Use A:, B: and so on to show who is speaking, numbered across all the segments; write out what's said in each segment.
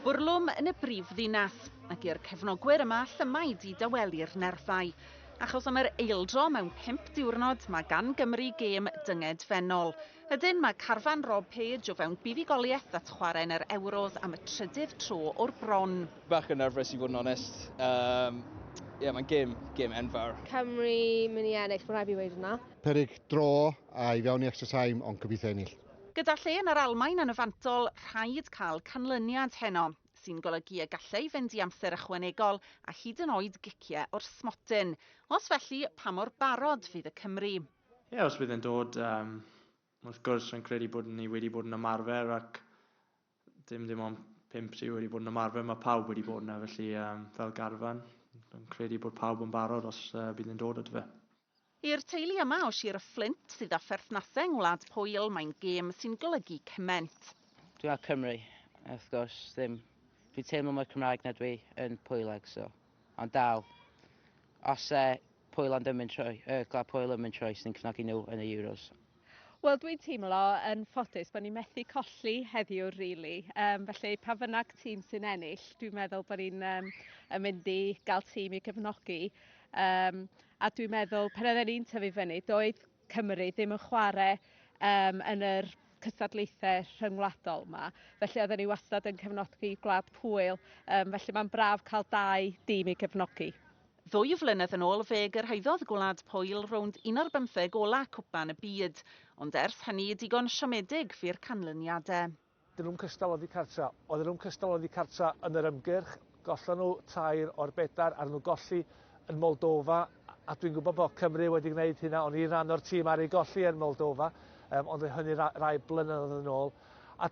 A: Bwrlwm yn y brif ddinas, ac i'r cefnogwyr yma llymaid i dawelu'r nerfau. Achos am yr eildro mewn pimp diwrnod, mae gan Gymru gêm dynged fennol. Ydyn, mae carfan Rob Page o fewn buddugoliaeth at chwarae yn yr Ewros am y trydydd tro o'r bron. Bach yn nerfus i
B: fod yn onest. Um, yeah, mae'n gêm, gêm enfawr. Cymru mynd
C: i ennill, mae'n rhaid i fi wedi hwnna. Peryg draw
D: a i fewn i extra time, ond gobeithio ennill. Gyda lle yn yr
A: Almaen yn y fantol, rhaid cael canlyniad heno, sy'n golygu y gallai fynd i amser ychwanegol a hyd yn oed giciau o'r smotyn. Os felly, pa mor barod fydd y Cymry? Ie, os bydd e'n
E: dod, wrth gwrs, rwy'n credu bod ni wedi bod yn ymarfer ac Dim dim ond pump sy wedi bod yn ymarfer, mae pawb wedi bod yna, felly um, fel garfan, yn credu bod pawb yn barod os uh, bydd yn dod at fe. I'r teulu
A: yma o Sir y Fflint sydd â pherthnasau yng Ngwlad Pwyl, mae'n gêm sy'n golygu cyment. Dwi'n ar Cymru,
F: wrth gwrs, ddim. Dwi'n teimlo mwy Cymraeg na dwi yn Pwyleg, so. Ond dal, os e Pwyl ond ymyn troi, y Gwlad Pwyl ymyn troi sy'n cefnogi nhw yn y Euros. Wel dwi'n
G: teimlo yn ffodus bod ni'n methu colli heddiw rili. Yym felly pa fynnag tîm sy'n ennill dwi'n meddwl bod ni'n yym yn mynd i gael tîm i gefnogi. Yym a dwi'n meddwl pan oedden ni'n tyfu fyny doedd Cymru ddim yn chwarae um, yn yr cystadlaethau rhyngwladol yma. Felly oedden ni wastad yn cefnogi Gwlad Pwyl, um, felly mae'n braf cael dau dîm i gefnogi. Ddwy flynedd
A: yn ôl fe gyrhaeddodd Gwlad Pwyl rownd un o'r bymtheg ola Cwpan y Byd, ond ers hynny digon siomedig fu'r canlyniadau. Dylwn cystal
H: oddi cartra. O ddylwn cystal oddi cartra yn yr ymgyrch, gollon nhw tair o'r bedair ar nhw golli yn Moldova, a dwi'n gwybod bod Cymru wedi gwneud hynna, o'n i'n rhan o'r tîm ar ei golli yn Moldova, um, ond oedd hynny rai blynyddoedd yn ôl. A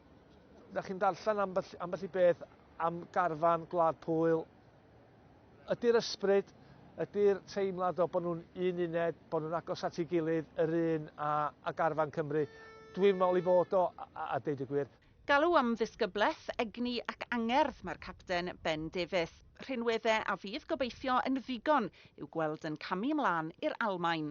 H: da chi'n darllen ambell, ambell i beth am garfan Gwlad Pwyl Ydy'r ysbryd, ydy'r teimlad o bod nhw'n un uned, bod nhw'n agos at ei gilydd, yr un a, a garfan Cymru. Dwi'n meddwl ei fod o, a, a, a deud y gwir. Galw am ddisgyblaeth,
A: egni ac angerdd mae'r capten, Ben Davies. Rhinwedde a fydd gobeithio yn ddigon i'w gweld yn camu 'mlân i'r Almaen.